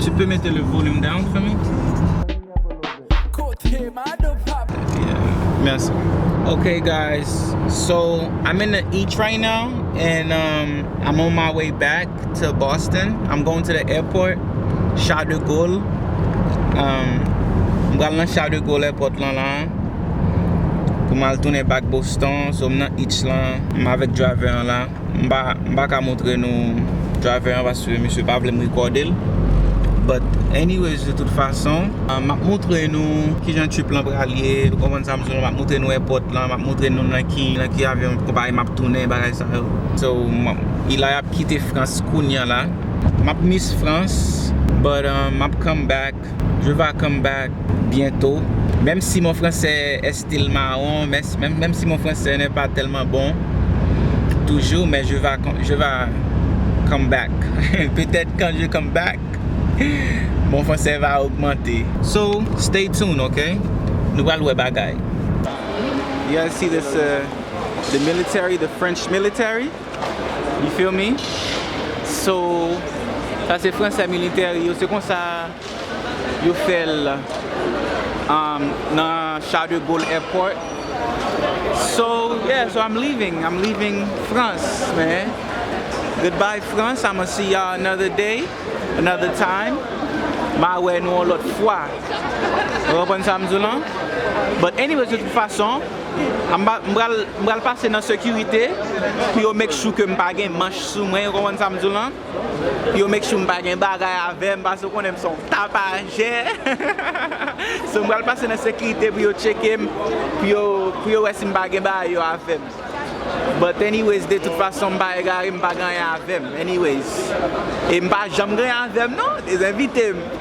Tu peux mete le volume down for me? Merci. Okay guys, so I'm in the each right now and um, I'm on my way back to Boston. I'm going to the airport, Charles de Gaulle. Um, m pral nan Charles de Gaulle airport lan la. Pou m al tounen back Boston, so m nan each lan. M avèk driver an la. M pa, m pa ka montre nou driver an paske misye pa vle m rekòde l. But anyways de tout fason. M ap montre nou kijan trip lan pral ye. Ou konprann sa m di nou la? M ap montre nou èpòt lan. M ap montre nou nan ki, nan ki avyon konpayi m ap tounen, bagay sa yo. So, m ap, Eli ap kite Frans kounya la. M ap miss Frans, but m ap come back. back. Je va come back bientôt Même si mon français est style marron Même si mon français n'est pas tellement bon Toujours mais je va Je va come back Peut-être quand je come back Mon français va augmenter So, stay tuned ok Nou pral wè bagay. You guys see this uh the military the French military. You feel me? So sa se fransè military yo se konsa yo fèl nan Charles de Gaulle airport So yeah so I'm leaving I'm leaving France man Goodbye France I'ma see ya another day another time ma wè nou yon lòt fwa Ou konprann sam di w lan? But anyways de tout fason M pral pase nan sekirite pou yo make sure ke m pa gen manch sou mwen, ou konprann sa m di w lan? Pou yo make sure m pa gen bagay avè m pase ou konnen m se yon tapajè. So m pral pase nan sekirite pou yo tcheke m, pou yo wè si m pa gen bagay yo avè m. But anyways de tout fason m pa egare m pa gen anyen avè m anyways. E m pa janm gen anyen avè m non, e zenvite m.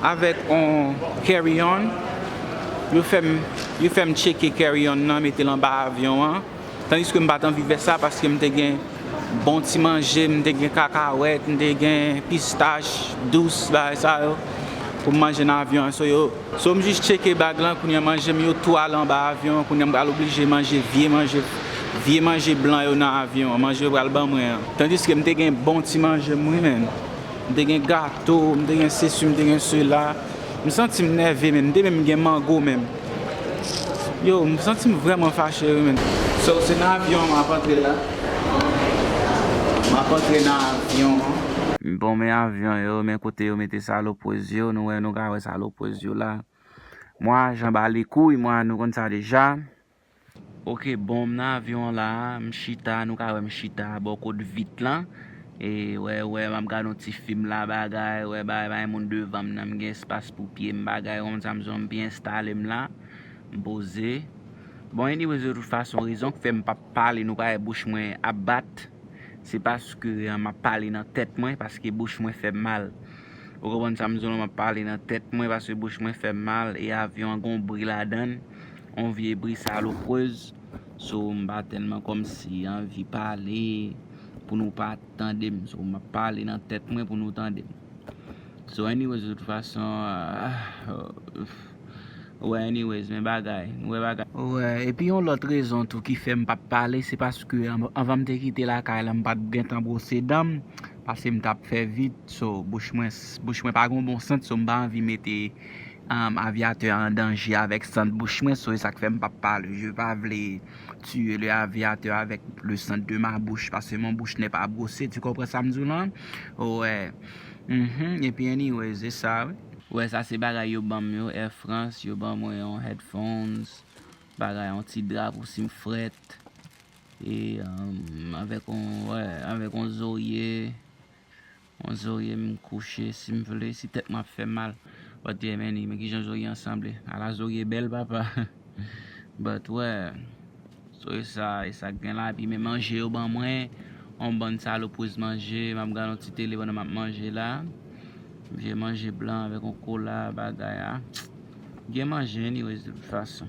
Avèk on carry on yo fè m yo fè m tcheke carry on nan mete l anba avyon an tandiske m pa t anvi fè sa paske m te gen bon ti manje m te gen kakawèt m te gen pistach dous bagay sa yo pou m manje nan avyon an so yo so m jis tcheke bag lan kounye a manje m yo tou ale anba avyon an kounye a m pral oblije manje vye manje vye manje blan yo nan avyon an manje yo pral ban mwen an tandiske m te gen bon ti manje m wi menn. M te gen gato, m te gen sesi, m te gen sela. M santi m nève menm. M te menm gen mango menm. Yow, m santi m vrèman fache wi menn. So, se nan avyon an m ap antre la. M ap antre nan avyon an. Bon, men avyon yo, men kote yo mete salopwez yo. Nou wè, nou ka wè salopwez yo la. Mwa, jan ba li kouy, mwa, nou konn sa deja. Ok bon m nan avyon an la m chita nou ka wè m chita bò kot vit lan e wè wè map gad yon ti fim la bagay wè bagay pa gen moun devan m nan m gen espas pou pye m bagay ou konprann sa m bezwen m byen enstale m la m poze bon anyways de tout fason rezon k fè m pap pale nou pa wè bouch mwen ap bat se paske map pale nan tèt mwen paske bouch mwen fè m mal ou konprann sa m bezwen w la map pale nan tèt mwen paske bouch mwen fè m mal e avyon an gon bri ladan l On vye bri saloprez so m pa telman komsi anvi pale pou nou pa tandem so map pale nan tet mwen pou nou tandem so anyways de tout fason ou wè anyways men bagay nou wè bagay. Wè epi yon lot rezon tou ki fem pap pale se paske anvan m te kite lakay la m pat gentan brose dan m pase m tap fè vit so bouch mwen bouch mwen pa gon bon sant so m pa anvi mete Aviateur an danje avèk sant bouch mwen so e sak fèm pap pale je pa vle tiye le aviateur avèk le sant de ma bouch paske mon bouch nè pa brose tu konpran sam diw lan wè uhmm epi anyways e sa wi. Wè sa se bagay yo banm yo air France yo ban mwen yon headphones bagay yon ti dra pou sim frèt e avèk yon wè avèk yon zorye On zorye m kouche si m vle si tèt mwen ap fè m mal But yeah man men kijan zorye an sanble ala zorye bèl papa But wèè Zorye sa e sa k gen la epi men manje yo ban mwen on bann salopriz manje m ap gad on ti tele pandan m ap manje la vye manje blan avèk on kola bagay a gen manje anyways de tout fason.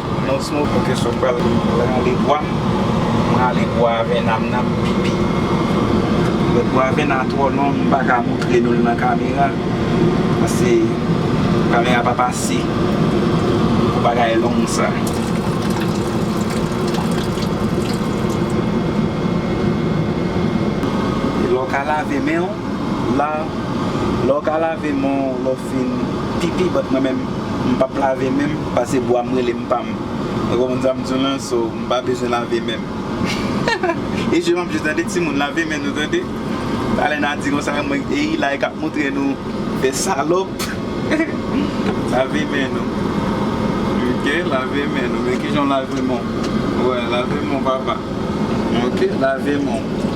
Non sno pou ke sou pral rale bwa m rale bwa avènam nan pou pipi lòt bwa avèna twò long m paka moutre nou l nan kamera pase kamera pa pase pou bagay long sa e lè w ka lave men w la lè w ka lave men w lè w fin pipi bat mwen menm. M pap lave menm pase bwa m rele m pa m ou konprann sa m di w lan so m pa bezwen lave men m e je m ap je tande timoun lave men nou tande talè na di konsa mwen e Ilay k ap montre nou fè salòp lave men nou ok lave men nou men kijan w lave men w wè lave men w papa ok lave men w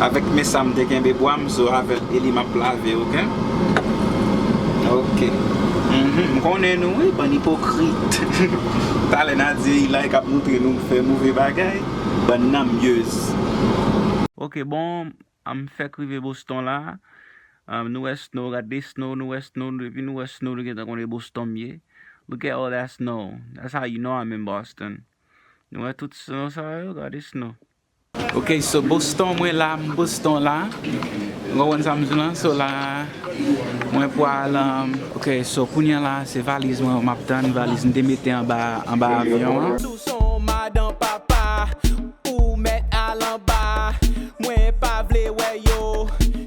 avèk men sa m te kenbe bwa m. Zo avèl Eli map lave ok. Ok uhmm m konnen nou wi bann ipokrit talè na di Eli kap moutre nou fè move bagay bann nanmyez. Ok bon m fèk rive Boston la nou wè snow gad de snow nou wè snow depi nou wè snow nou gentan konnen e Boston m ye look at all that snow that's how you know I'm in Boston nou wè tout snow sa yo gade snow. Ok so Boston mwen la m Boston la m konprann sa m di w lan so la mwen pwal ok so kounya la se valiz mwen map tann valiz m te mete anba anba avyon an. Sou son madan papa ou mèt al anba mwen pa vle wè yo.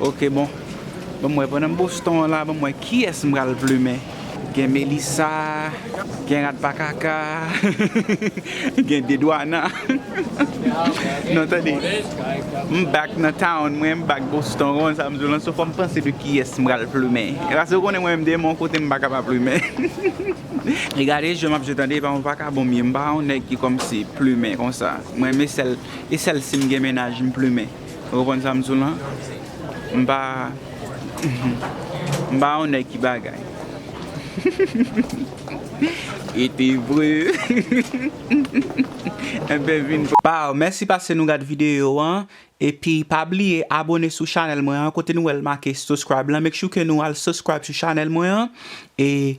Ok bon Banm wè pandan m boston an la banm wè kiyès m pral plumen gen melisa gen radpakaka gen dedwana non tande m back nan town mwen m back boston ou konn sa m di w lan so fòm panse de kiyès m pral plumen pase ou konnen mwen menm demon kote m paka pa plumen e gade je map je tande epa mwen paka bon m ye m pa yon nèg ki kòmsi plumen konsa mwen renmen sèl. e sèl sim gen mennaj m plumen ou konprann sam di w lan m pa m pa yon nèg ki bagay hihihihihihih ete vre hihihihihihih enben vin Baww mèsi pase nou gad video an epi pa bliye abone sou chanèl mwen an kote nou wèl make suscribe lan make sure ke nou al suscribe sou chanèl mwen an e.